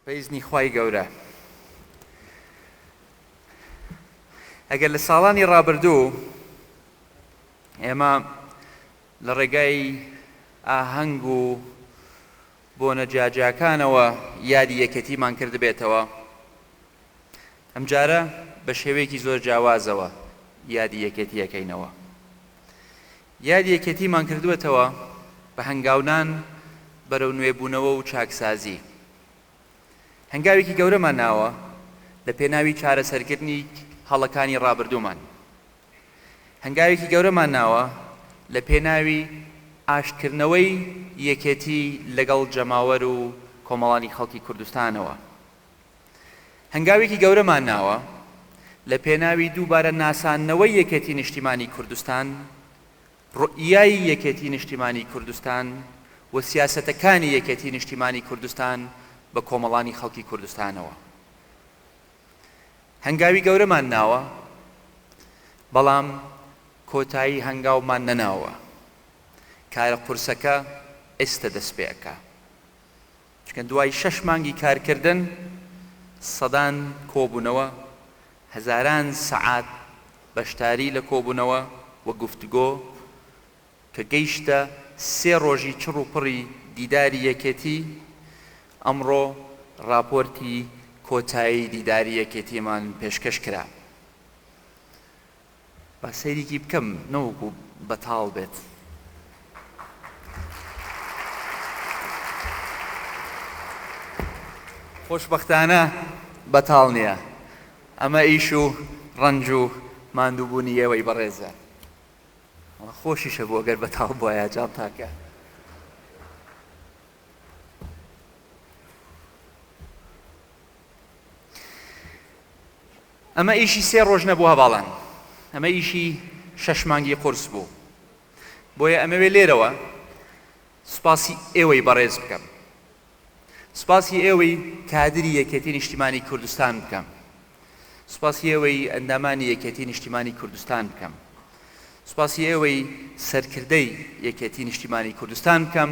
بەئیزنی خوای گەورە ئەگەر لە ساڵانی ڕابردوو ئێمە لە ڕێگای ئاهەنگ و بۆنە جیاجیاکانەوە یادی یەکێتیمان کردبێتەوە، ئەمجارە بە شێوەیەکی زۆر جیاوازەوە یادی یەکێتی ئەکەینەوە. یادی یەکێتیمان کردووەتەوە بە هەنگاونان بەرەو نوێبوونەوە و چاکسازی. هەنگاوێکی گەورەمان ناوە لە پێناوی چارەسەرکردنی هەڵەکانی ڕابردوومان. هەنگاوێکی گەورەمان ناوە لە پێناوی ئاشتکردنەوەی یەکێتی لەگەڵ جەماوەر و کۆمەڵانی خەڵکی کوردستانەوە. هەنگاوێکی گەورەمان ناوە لە پێناوی دووبارە ناساندنەوەی یەکێتی نیشتیمانی کوردستان، روئیای یەکێتی نیشتیمانی کوردستان و سیاسەتەکانی یەکێتی نیشتیمانی کوردستان بە کۆمەڵانی خەڵکی کوردستانەوە. هەنگاوی گەورەمان ناوە، بەڵام کۆتایی هەنگاومان نەناوە. کارە قورسەکە ئێستە دەستپێئەکا. چونکە دوای شەش مانگی کارکردن سەدان کۆبوونەوە، هەزاران سەعات بەشداری لە کۆبوونەوە و گفتوگۆ کە گەیشتە سێ ڕۆژی چڕ و پڕی دیداری یەکێتی، ئەمڕۆ ڕاپۆرتی کۆتایی دیداری یەکێتیمان پێشکەش کرا. با سەیریکی بکەم نەوەکو بەتاڵ بێت. خۆشبەختانە بەتاڵ نیە. ئەمە ئیش و ڕەنج و ماندووبوونی ئێوەی بەڕێزە. وەڵا خۆشیش هەبوو ئەگەر بەتاڵ بوایە جانتاکە. ئەمە ئیشی سێ ڕۆژ نەبوو هەڤاڵان، ئەمە ئیشی شەش مانگی قورس بوو. بۆیە ئەمەوێ لێرەوە سوپاسی ئێوەی بەڕێز بکەم، سوپاسی ئێوەی کادری یەکێتی نیشتیمانی کوردستان بکەم، سوپاسی ئێوەی ئەندامانی یەکێتی نیشتیمانی کوردستان بکەم، سوپاسی ئێوەی سەرکردەی یەکێتی نیشتیمانی کوردستان بکەم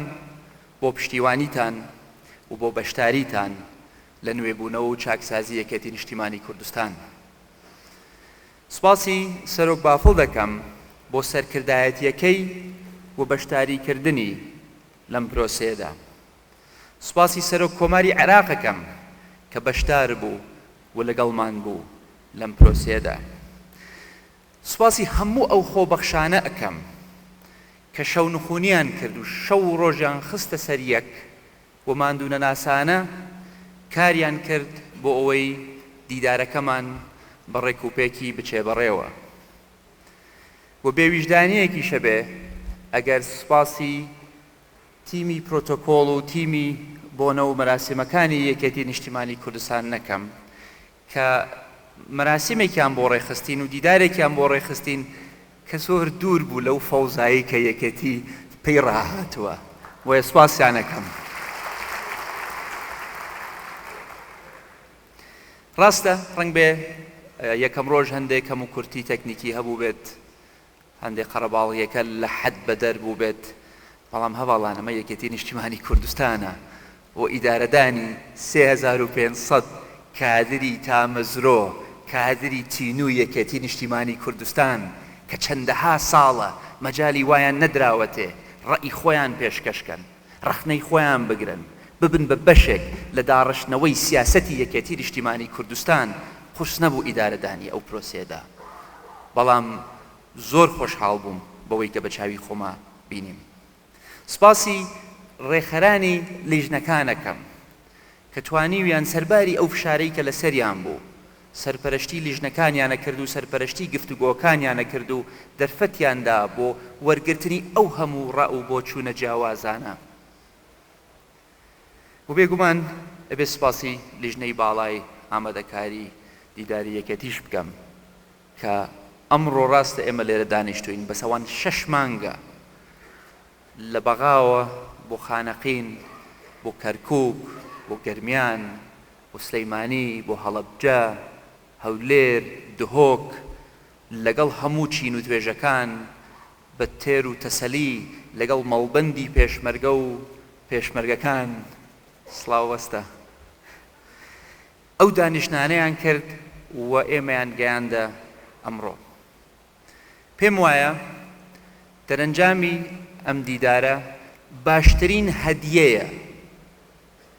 بۆ پشتیوانیتان و بۆ بەشداریتان لە نوێبوونەوە و چاکسازی یەکێتی نیشتیمانی کوردستان دا. سوپاسی سەرۆک بافڵ دەکەم بۆ سەرکردایەتییەکەی و بەشداریکردنی لەم پرۆسەیەدا. سوپاسی سەرۆک کۆماری عێراق ئەکەم کە بەشدار بوو و لەگەڵمان بوو لەم پرۆسەیەدا. سوپاسی هەموو ئەو خۆبەخشانە ئەکەم کە شەونخونیان کرد و شەو و ڕۆژیان خستە سەر یەک، و ماندوونەناسانە کاریان کرد بۆ ئەوەی دیدارەکەمان بە ڕێکوپێکی بچێ بەڕێوە و بێ ویژدانییەکیشە بێ ئەگەر سوپاسی تیمی پرۆتۆکۆڵ و تیمی بۆنە و مەراسیمەکانی یەکێتی نیشتیمانی کوردستان نەکەم کە مەراسیمێکیان بۆ ڕێکخستین و دیدارێکیان بۆ ڕێکخستین کە زۆر دوور بوو لەو فەوزایەی کە یەکێتی پێی ڕاهاتووە، بۆیە سوپاسیان ئەکەم. ڕاستە ڕەنگبێ یەکەم ڕۆژ هەندێ کەموکورتی تەکنیکی هەبووبێت، هەندێک قەرەباڵغیەکە لە حەد بەدەر بووبێت، بەڵام هەڤاڵان ئەمە یەکێتی نیشتیمانی کوردستانە و ئیدارەدانی سێ هەزار و پێنج سەد کادری تامەزرۆ، کادری تینووی یەکێتی نیشتیمانی کوردستان کە چەندەها ساڵە مەجالی وایان نەدراوەتێ ڕەئی خۆیان پێشکەش کەن. ڕەخنەی خۆیان بگرن، ببن بە بەشێک لە داڕشتنەوەی سیاسەتی یەکێتی نیشتیمانی کوردستان، قورس نەبوو ئیدارەدانی ئەو پرۆسەیەدا، بەڵام زۆر خۆشحاڵ بووم بەوەی کە بە چاوی خۆما بینیم. سپاسی ڕێکخەرانی لیژنەکان ئەکەم کە توانیویان سەرباری ئەو فشارەی کە لەسەریان بوو سەرپەرەشتی لیژنەکانیانە کرد و سەرپەرەشتی گفتوگۆکانیانە کرد و دەرفەتیان دا بۆ وەرگرتنی ئەو هەموو ڕا و بۆچوونە جیاوازانە و بێگومان ئەبێ سپاسی لیژنەی باڵای ئامادەکاری دیداری یەکێتیش بکەم کە ئەمڕۆ ڕاستە ئێمە لێرە دانیشتووین بەس ئەوان شەش مانگە لە بەغاوە بۆ خانەقین، بۆ کەرکووک، بۆ گەرمیان، بۆ سلەیمانی، بۆ هەڵەبجە، هەولێر، دهۆک، لەگەڵ هەموو چین و توێژەکان، بە تێر و تەسەلی لەگەڵ مەڵبەندی پێشمەرگە و پێشمەرگەکان سڵاوبەستە ئەو دانیشتنانەیان کرد و ئێمەیان گەیاندە ئەمڕۆ. پێم وایە دەرەنجامی ئەم دیدارە باشترین هەدیەیە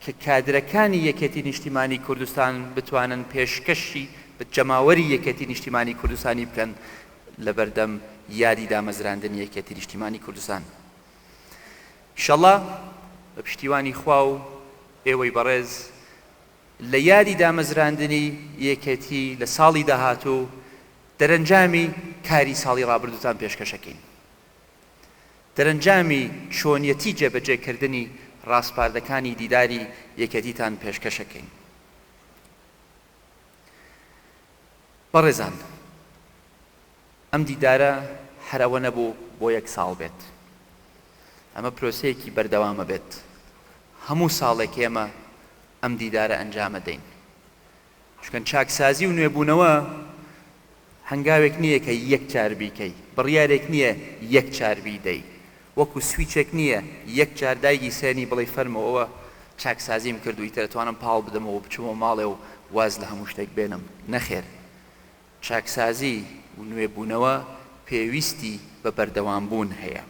کە کادرەکانی یەکێتی نیشتیمانی کوردستان بتوانن پێشکەشی بە جەماوەری یەکێتی نیشتیمانی کوردستانی بکەن لە بەردەم یادی دامەزراندنی یەکێتی نیشتیمانی کوردستان ئیشەڵا بە پشتیوانی خوا و ئێوەی بەڕێز لە یادی دامەزراندنی یەکێتی لە ساڵی داهاتوو دەرەنجامی کاری ساڵی ڕابردووتان پێشکەشەکەین. دەرەنجامی چۆنیەتی جێبەجێکردنی ڕاسپاردەکانی دیداری یەکێتیتان پێشکەشەکەین. بەڕێزان ئەم دیدارە هەر ئەوە نەبوو بۆ یەک ساڵ بێت، ئەمە پرۆسەیەکی بەردەوامە بێت، هەموو ساڵێک ئێمە ئەم دیدارە ئەنجامەدەین، چونکە چاکسازی و نوێبوونەوە هەنگاوێک نییە کە یەک جار بیکەی، بڕیارێک نییە یەک جار بیدەی، وەکو سویچێک نییە یەک جار دایگیسێنی بڵێی فەرموو ئەوە چاکسازیم کرد و ئیتر ئەتوانم پاڵ بدەمەوە و بچمەوە ماڵێ و واز لە هەموو شتێک بێنم، نەخێر چاکسازی و نوێبوونەوە پێویستی بە بەردەوامبوون هەیە.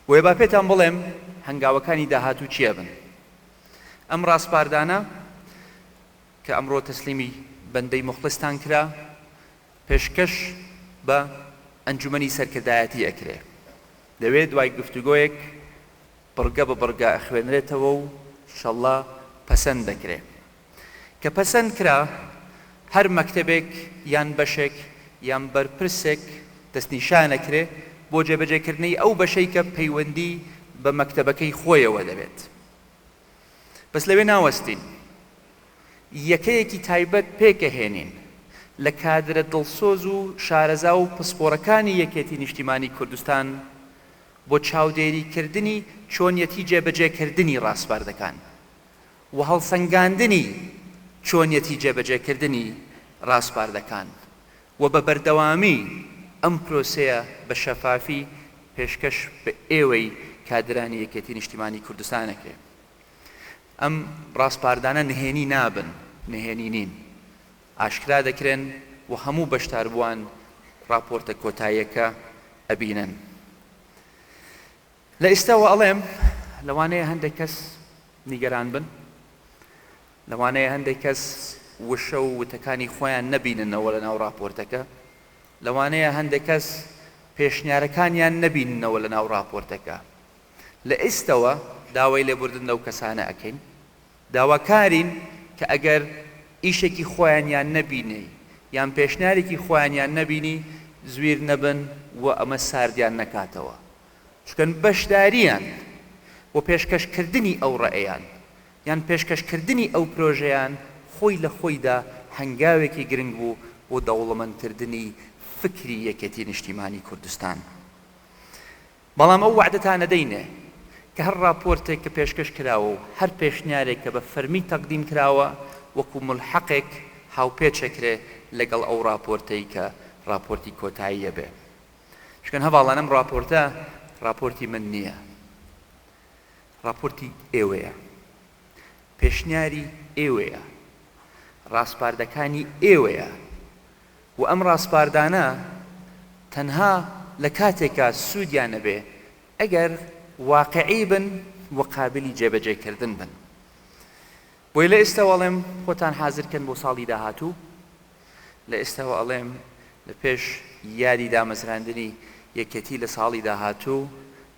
بۆیە با پێتان بڵێم هەنگاوەکانی داهاتوو چیا بن. ئەم ڕاسپاردانە کە ئەمڕۆ تەسلیمی بەندەی موخڵیستان کرا، پێشکەش بە ئەنجومەنی سەرکردایەتی ئەکرێ. لەوێ دوای گفتوگۆیەک بڕگە بە بڕگە ئەخوێنرێتەوە و شەڵڵا پەسەند دەکرێ. کە پەسەند کرا هەر مەکتەبێک یان بەشێک یان بەرپرسێک دەستنیشان ئەکرێ بۆ جێبەجێ کردنەی ئەو بەشەی کە پەیوەندی بە مەکتەبەکەی خۆیەوە دەبێت بەس لەوێ ناوەستین یەکەیەکی تایبەت پێک ئەهێنین لە کادرە دڵسۆز و شارەزا و پسپۆرەکانی یەکێتی نیشتیمانی کوردستان بۆ چاودێری کردنی چۆنیەتی جێبەجێ کردنی ڕاسپاردەکان. و هەڵسەنگاندنی چۆنیەتی جێبەجێکردنی ڕاسپاردەکان و بە بەردەوامی ئەم پرۆسەیە بە شەفافی پێشکەش بە ئێوەی کادرانی یەکێتی نیشتیمانی کوردستان ئەکرێ. ئەم ڕاسپاردانە نهێنی نابن، نهێنی نین. ئاشکرا دەکرێن و هەموو بەشداربووان ڕاپۆرتە کۆتاییەکە ئەبینن. لە ئیستاوە ئەڵێم لەوانەیە هەندێک کەس نیگەران بن، لەوانەیە هەندێک کەس وشە و وتەکانی خۆیان نەبیننەوە لەناو ڕاپۆرتەکە، لەوانەیە هەندێک کەس پێشنیارەکانیان نەبیننەوە لەناو ڕاپۆرتەکە. لە ئیستەوە داوای لێبوردن لەو کەسانە ئەکەین، داواکارین کە ئەگەر ئیشێکی خۆیانیان نەبینی یان پێشنیارێکی خۆیانیان نەبینی زویر نەبن و ئەمە ساردیان نەکاتەوە. چونکە بەشدارییان و پێشکەشکردنی ئەو ڕەئیان یان پێشکەشکردنی ئەو پرۆژەیان خۆی لە خۆیدا هەنگاوێکی گرنگ بوو بۆ دەوڵەمەندکردنی فکری یەکێتی نیشتیمانی کوردستان. بەڵام ئەو وەعدەتانە دەینێ کە هەر ڕاپۆرتێک کە پێشکەش کراوە و هەر پێشنیارێک کە بە فەرمی تەقدیم کراوە وەکوو ملحەقێک هاوپێچ ئەکرێ لەگەڵ ئەو ڕاپۆرتەی کە ڕاپۆرتی کۆتاییە بێ شکن هەڤاڵان ئەم ڕاپۆرتە ڕاپۆرتی من نییە ڕاپۆرتی ئێوەیە پێشنیاری ئێوەیە ڕاسپاردەکانی ئێوەیە و ئەم ڕاسپاردانە تەنها لە کاتێکا سوودیان نەبێ ئەگەر واقعی بن و قابلی جێبەجێکردن بن بۆیە لە ئێستاوە ئەڵێم خۆتان حازر کەن بۆ ساڵی داهاتوو، لە ئێستاوە ئەڵێم لە پێش یادی دامەزراندنی یەکێتی لە ساڵی داهاتوو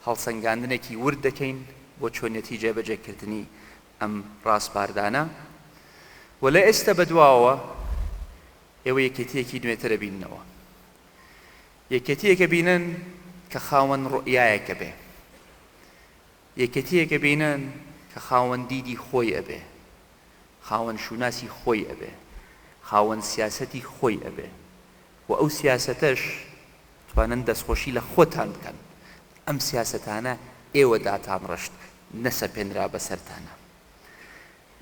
هەڵسەنگاندنێکی ورد دەکەین بۆ چۆنیەتی جێبەجێکردنی ئەم ڕاسپاردانە و لە ئێستا بە دواوە ئێوە یەکێتیەکی نوێتر ئەبیننەوە. یەکێتیەک ئەبینن کە خاوەن ڕوئیایەک ئەبێ. یەکێتیەک ئەبینن کە خاوەن دیدی خۆی ئەبێ، خاوەن شوناسی خۆی ئەبێ، خاوەن سیاسەتی خۆی ئەبێ و ئەو سیاسەتەش توانن دەستخۆشی لە خۆتان بکەن، ئەم سیاسەتانە ئێوە داتانڕشت نەسەپێنرا بەسەرتانا.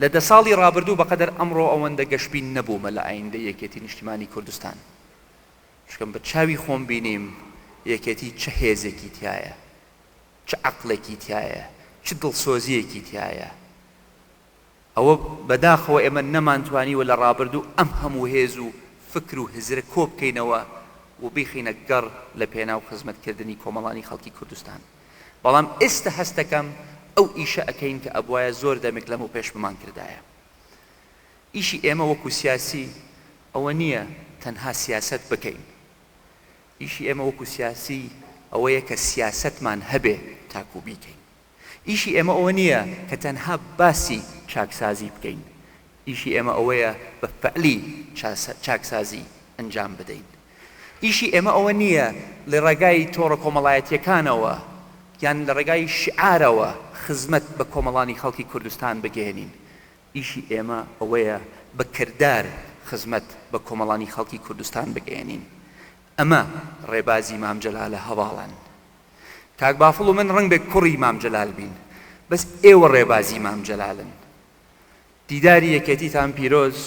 لە دە ساڵی ڕابردوو بەقەدەر ئەمڕۆ ئەوەندە گەشبین نەبوومە لە ئایندەی یەکێتی نیشتیمانی کوردستان، چونکە بە چاوی خۆم بینیم یەکێتی چ هێزێکی تیایە، چ عەقڵێکی تیایە چ دڵسۆزیەکی تیایە ئەوە بەداخەوە ئێمە نەمانتوانیوە لە ڕابردوو ئەم هەموو هێز و فکر و هزرە کۆبکەینەوە و بیخینە گەڕ لە پێناو خزمەت کردنی کۆمەڵانی خەڵکی کوردستان بەڵام ئێستە هەستەکەم ئەو ئیشە ئەکەین کە ئەبوایە زۆر دەمێک لەمەو پێش بمان کردایە ئیشی ئێمە وەکو سیاسی ئەوە نیە تەنها سیاسەت بکەین ئیشی ئێمە وەکو سیاسی ئەوەیە کە سیاسەتمان هەبێ تاکو بیکەین. ئیشی ئێمە ئەوە نییە کە تەنها باسی چاکسازی بکەین، ئیشی ئێمە ئەوەیە بە فەعلی چاکسازی ئەنجام بدەین. ئیشی ئێمە ئەوە نییە لە ڕێگای تۆڕە کۆمەڵایەتییەکانەوە یان لە ڕێگای شیعارەوە خزمەت بە کۆمەڵانی خەڵکی کوردستان بگەیەنین. ئیشی ئێمە ئەوەیە بە کردار خزمەت بە کۆمەڵانی خەڵکی کوردستان بگەیەنین. ئەمە ڕێبازی مام جەلالە هەڤاڵان. کاک بافڵ و من ڕەنگبێ کوڕی مام جەلال بین، بەس ئێوە ڕێبازی مام جەلالن. دیداری یەکێتیتان پیرۆز،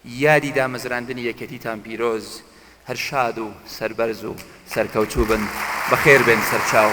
یادی دامەزراندنی یەکێتیتان پیرۆز، هەر شاد و سەربەرز و سەرکەوتوو بن، بەخێر بێن سەرچاو.